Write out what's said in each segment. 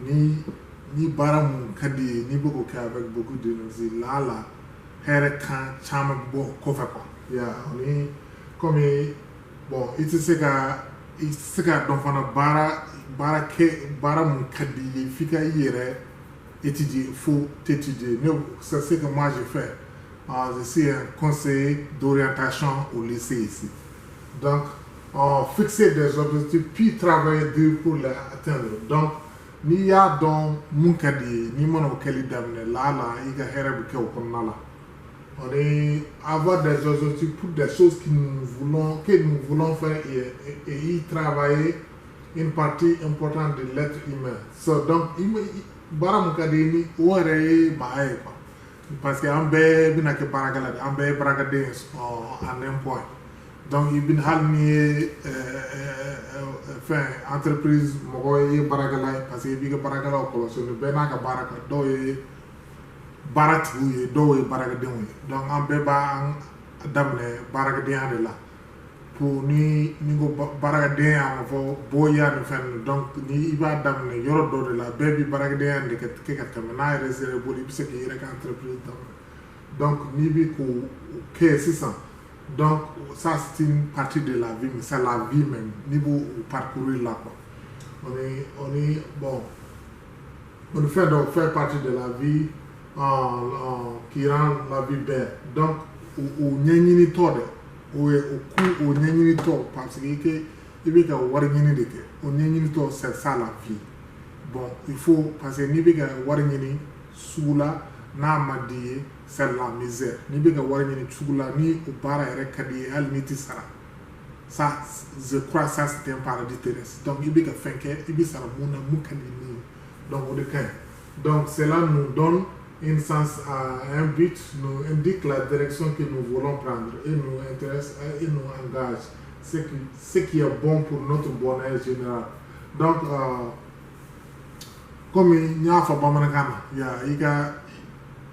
ni ni baara mun ka di i ye n'i bɛ k'o kɛ avec beaucoup d'énergie la la hɛrɛ kan caman bɛ bɔ kɔfɛ quoi ya ni komi bon i tɛ se ka i tɛ se k'a dɔn fana baara baara kɛ baara mun ka di i ye f'i ka i yɛrɛ étudier faut t'étudier mais c'est ce que moi je fais ah je suis un conseiller d'orientation au lycée ici Donc, fixer des objectifs, puis travailler dur pour les atteindre. Donc, n'i y'a dɔn mun ka di i ye n'i mana o kɛli daminɛ la la i ka hɛrɛ bɛ kɛ o kɔnɔna la o ni avoir des objectifs pour des choses que nous voulons que nous voulons faire et, et, et y travailler une partie importante de l'être humain so donc baara mun ka di ni o yɛrɛ ye maa ye quoi parce que an bɛɛ bɛna kɛ baarakɛla de an bɛɛ ye baarakɛden ye en un point donc i bɛna hali n'i ye fɛn entreprise mɔgɔ ye baarakɛla ye parce que i b'i ka baarakɛlaw kɔlɔsi ni bɛɛ n'a ka baara kan dɔw ye baaratigiw ye dɔw ye baarakɛdenw ye donc an bɛɛ b'an daminɛ baarakɛdenya de la ko ni ni ko baarakɛden y'a fɔ bɔ y'a ni fɛn ni i b'a daminɛ yɔrɔ dɔ de la bɛɛ bɛ baarakɛdenyaya de kɛ kɛ ka tɛmɛ n'a yɛrɛ sera boli i bɛ se k'i yɛrɛ ka tɛp da n'i bɛ ko kɛ sisan sa ti pati de la bi misa la bi mɛ n'i b'o pakuru la qu bɔn Olu fɛn dɔw fait partie de la vie qui rend la vie belle donc o ɲɛɲinitɔ dɛ o ye o ku o ɲɛɲinitɔ parce que i tɛ i bɛ ka wari ɲini de kɛ o ɲɛɲinitɔ c'est ça la vie bon il faut parce que n'i bɛ ka wari ɲini sugu la n'a man di i ye c'est la misère n'i bɛ ka wari ɲini sugu la ni o baara yɛrɛ ka di i ye hali n'i tɛ sara ça je crois ça c'est un paradis terrestre donc i bɛ ka fɛn kɛ i bɛ sara mun na mun ka di i ye donc o de ka ɲi donc cela nous donne un sens à un but nous indique la direction que nous voulons prendre et nous intéresse et nous engage ce qui ce qui est bon pour notre bonheur général donc euh, comme n y'a fɔ bamanankan na ya i ka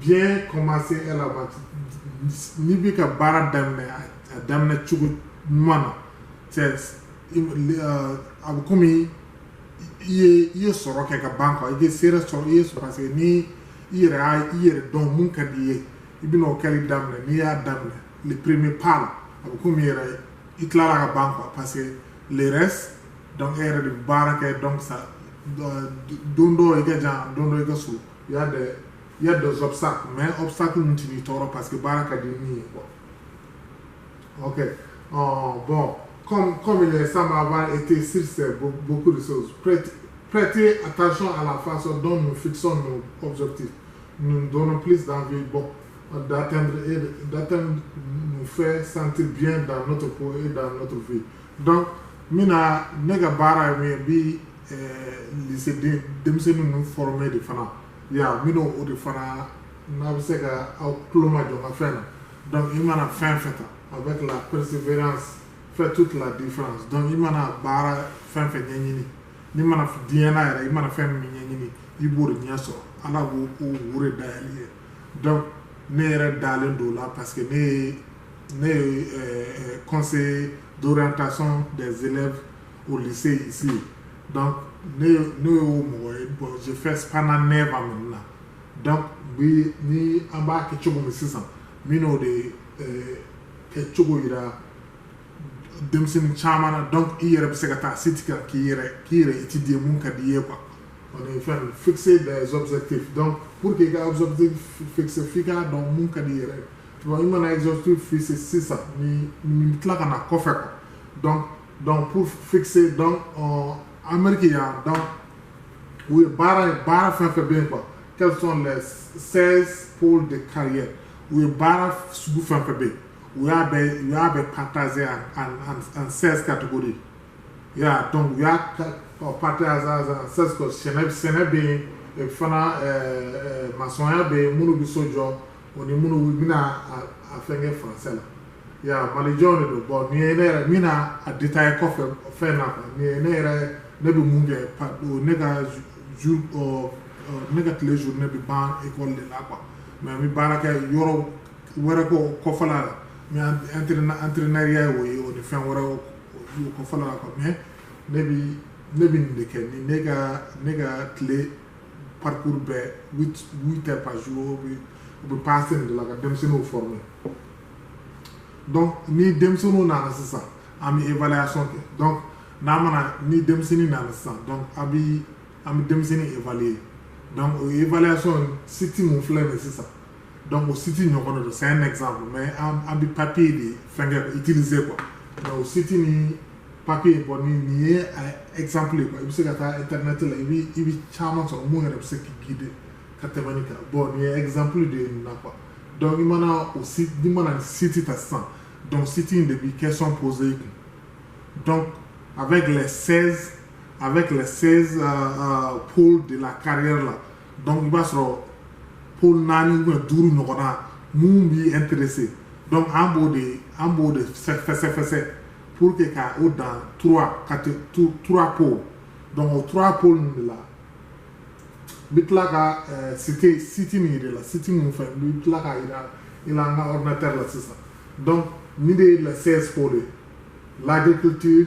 bien commencé est la moitié n'i bɛ ka baara daminɛ a daminɛ cogo ɲuman na c'est euh, a bɛ komi i ye i ye sɔrɔ kɛ ka ban quoi i ye seere sɔrɔ i ye parce que ni i yɛrɛ y'a i yɛrɛ dɔn mun ka di i ye i bɛna o kɛli daminɛ n'i y'a daminɛ le premier pas la a bɛ komi i yɛrɛ i tilara ka ban quoi parce que le reste donc e yɛrɛ de bɛ baara kɛ donc ça don dɔ ka jan don dɔ ka surun il y a des il y a des obstacles mais obstacle ninnu t'i ni tɔɔrɔ parce que baara ka d'i ni ye quoi ok euh, bon comme comme il est semble avoir été sur ces beaucoup de choses prêtez, prêtez attention à la façon dont nous fixons nos objectifs nous nous donnons plus d'envie bon d'atteindre et d'atteindre nous fait sentir bien dans notre peau et dans notre vie Donc n bɛna na ne ka baara ye min bi lycée denmisɛnnin ninnu former de fana yeah min o de fana n'a bɛ se ka aw tulomajɔ ka fɛn na donc i mana fɛn fɛn ta avec la persévérance fait toute la différence donc i mana baara fɛn fɛn ɲɛɲini ni mana diɲɛ na yɛrɛ i mana fɛn min ɲɛɲini i b'o de ɲɛ sɔrɔ ala b'o ko woro da yɛlɛ i ye donc ne yɛrɛ dalen don la parce que ne ye ne ye euh, conseiller d'orientation des élèves au lycée ici donc ne ne y'o mɔgɔ ye bon je fais pendant neuf ans maintenant donc bi ni an b'a kɛ cogo min sisan n bɛn'o de euh, kɛ cogo yira denmisɛnnin caman na donc i yɛrɛ bɛ se ka taa site kan k'i yɛrɛ k'i yɛrɛ étudier mun ka d'i ye quoi on est faire fixer des objectifs donc pour que i ka objectif fixer f'i k'a dɔn mun ka di i yɛrɛ tu vois i mana objectif fixer sisan ni ni bɛ tila ka na kɔfɛ quoi donc donc pour fixer donc euh, Amérique yan donc u ye baara baara fɛn fɛn bɛ yen quoi quels sont les 16 pôles de carrière u ye baara sugu fɛn fɛn bɛ yen u y'a bɛɛ u y'a bɛɛ partager en en en 16 catégories Yeah donc u y'a partager en 16 catégories sɛnɛ sɛnɛ bɛ yen fana masɔnya bɛ yen minnu bɛ so jɔ o ni minnu bɛna a fɛn kɛ français la yeah malijɛ de don bon ye ne yɛrɛ bɛna a détailler kɔfɛ fɛn na ne yɛrɛ ne bɛ mun kɛ pa ne ka ne ka tous les jours ne bɛ ban école de la quoi mais n bɛ baara kɛ yɔrɔ wɛrɛ kɔ kɔfɛla la mais en entrepreneuriat o ye o ni fɛn wɛrɛ o kɔfɛla la mais ne bi ne bi nin de kɛ ni ne ka ne ka tile parcours bɛɛ huit huit heures par jour bi u bɛ passer nin de la ka denmisɛnninw former donc ni denmisɛnninw nana sisan an bɛ évaluation kɛ donc n'a mana ni denmisɛnnin nana sisan donc a bi an bɛ denmisɛnnin évaluer donc o évaluation site mun filɛ nin ye sisan donc o site ɲɔgɔn de don c'est un exemple mais an an bɛ papier de fɛnkɛ utiliser quoi mais o site ni papier bon ni nin ye exemple ye quoi i bɛ se ka taa internet la i bɛ i bɛ caman sɔrɔ min yɛrɛ bɛ se k'i guider ka tɛmɛ nin kan bon nin ye exemple de ye nin na quoi donc i mana o site n'i mana site ta sa donc site in de bɛ question poser i kun donc avec les 16 avec les 16 euh, euh, pôles de la carrière là donc i b'a sɔrɔ pôle naani ou duuru ɲɔgɔnna minnu b'i intéresser donc an b'o de an b'o de fɛsɛfɛsɛ pour que ka o dan trois ka trois pôles donc o trois pôles ninnu de la n bɛ tila ka eh, site site min yɛrɛ la site min fɛ n bɛ tila ka yira i la an ka ordinateur la sisan donc nin de ye les seize pôles de l'agriculture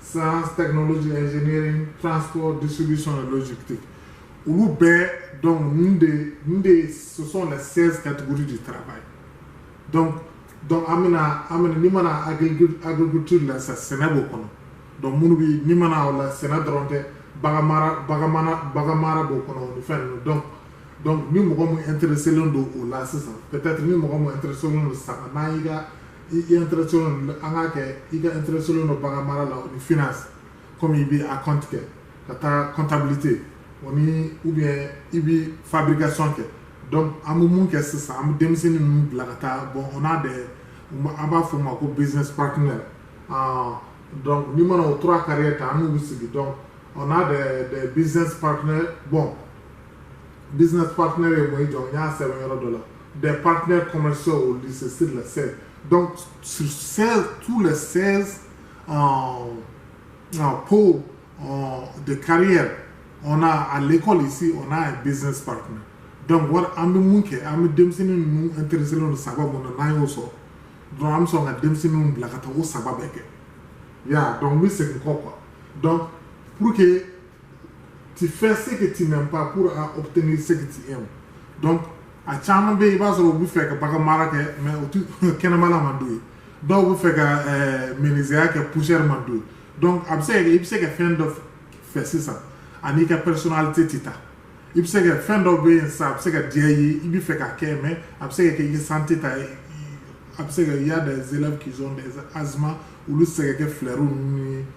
science technologie engineering transport distribution et logistique olu bɛɛ donc nin de nin de ce sont les 16 catégories du travail donc donc an bɛna an bɛna n'i mana agriculture la sa sɛnɛ b'o kɔnɔ donc minnu bɛ n'i mana o la sɛnɛ dɔrɔn tɛ baganmara baganmara baganmara b'o kɔnɔ o ni fɛn ninnu donc donc ni mɔgɔ min intéressé len don o la sisan peut-être ni mɔgɔ min intéressé len don sa n'i ka i i intéressé len don an k'a kɛ i ka intéressé len don bagan mara la ni finance comme i bɛ account kɛ ka taa comptabilité o ni ou bien i bɛ fabrication kɛ donc an bɛ mun kɛ sisan an bɛ denmisɛnnin ninnu bila ka taa bon on a des an b'a fɔ o ma ko business partner euh, donc n'i mana o trois carrières ta an n'u bɛ sigi donc on a des des business partners bon business partner ye mun ye donc n y'a sɛbɛn yɔrɔ dɔ la des partenaires commerciaux au lycée sur les 16 donc sur tous les 16 euh, euh, pour euh, de carrière on a à l'école ici on a un business partner donc what an bɛ mun kɛ an bɛ denmisɛnnin ninnu intéressé len don saba min na n'an y'o sɔrɔ donc an bɛ sɔrɔ ka denmisɛnninw bila ka taa o saba bɛɛ kɛ ya donc n bɛ segin kɔ quoi donc pour que tu fais ce que tu n'aimes pas pour en obtenir ce que tu aimes donc a caman bɛ yen i b'a sɔrɔ u bɛ fɛ ka bagan mara kɛ mais u ti kɛnɛma la man d'u ye dɔw bɛ fɛ ka eh, menuisier kɛ poussière man d'u ye donc a bɛ se ka kɛ i bɛ se ka fɛn dɔ fɛ sisan a n'i ka personnalité tɛ taa i bɛ se ka fɛn dɔ bɛ yen sisan a bɛ se ka diya i ye i bɛ fɛ k'a kɛ mais a bɛ se ka kɛ i ka santé ta ye a bɛ se ka il y a des élèves qui ont des asthmes olu tɛ se ka kɛ fleurs ni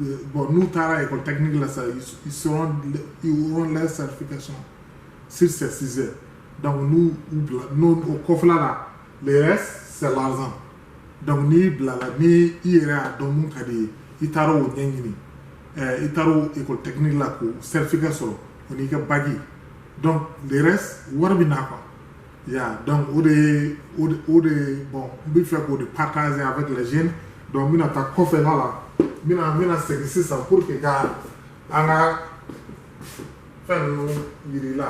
Euh, bon n'u taara école technique la sa ils seront ils auront leur certification sur ces sujets donc nous nous o kɔfɛla la le reste c'est l'argent donc n'i bilala ni i yɛrɛ y'a dɔn mun ka d'i ye i taara o ɲɛɲini ɛɛ i taara o école technique la k'o certificat sɔrɔ o n'i ka bac donc le reste wari bɛ n'a kɔ Yeah donc o de o de bon n bɛ fɛ k'o de partager avec les jeunes donc n bɛna taa kɔfɛ la la n n bɛna segin sisan pour que ka an ka fɛn ninnu jira la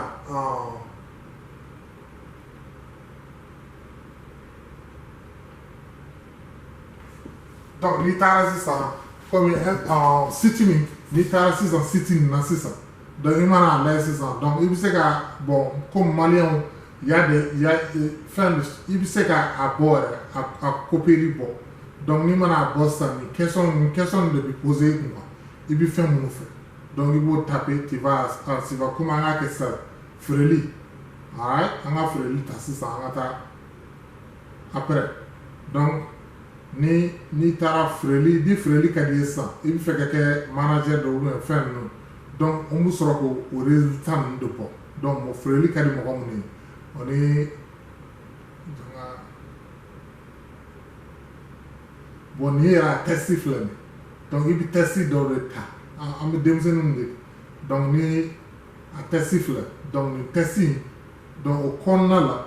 donc n'i taara sisan komi ɔ setting n'i taara sisan setting na sisan donc i mana a lajɛ sisan donc i bɛ se ka bon komi maliyɛnw y'a de y'a fɛn de i bɛ se ka a bɔ yɛrɛ a a copier bɔ donc n'i mana a bɔ sisan nin question nin question de bɛ poser i kunna i bɛ fɛn minnu fɛ donc i b'o taper tu vas à tu vas komi an k'a kɛ sisan feereli alright an ka feereli ta sisan an ka taa. après donc ni n'i taara feereli ni feereli ka di ye sisan i bɛ fɛ ka kɛ manager dɔ ou fɛn ninnu donc an bɛ sɔrɔ k'o o résultat ninnu de bɔ donc o feereli ka di mɔgɔ minnu ye o ni bon n'i yɛrɛ a test filɛ nin donc i bɛ test dɔw de ta an bɛ denmisɛnninw de donc ni a test filɛ donc nin test in donc o kɔnɔna la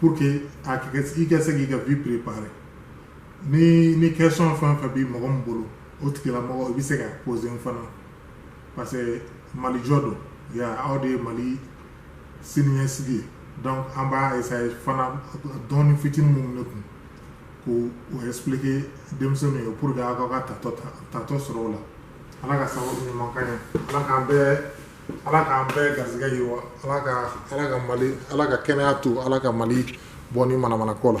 pour que a i ka se k'i ka vie préparer ni ni question fɛn fɛn bɛ mɔgɔ min bolo o tigilamɔgɔ i bɛ se ka poser n fana parce que malijɔ don ya aw de ye mali siniɲɛsigi ye donc an b'a essayer fana dɔnni fitinin minnu bɛ n kun k'o o expliquer denmisɛnninw ye pour que aw ka tatɔ tatɔ sɔrɔ o la ala ka sababu ɲuman k'an ye ala k'an bɛɛ ala k'an bɛɛ garisɛgɛ yiriwa ala ka ala ka mali ala ka kɛnɛya to ala ka mali bɔ nin manamanako la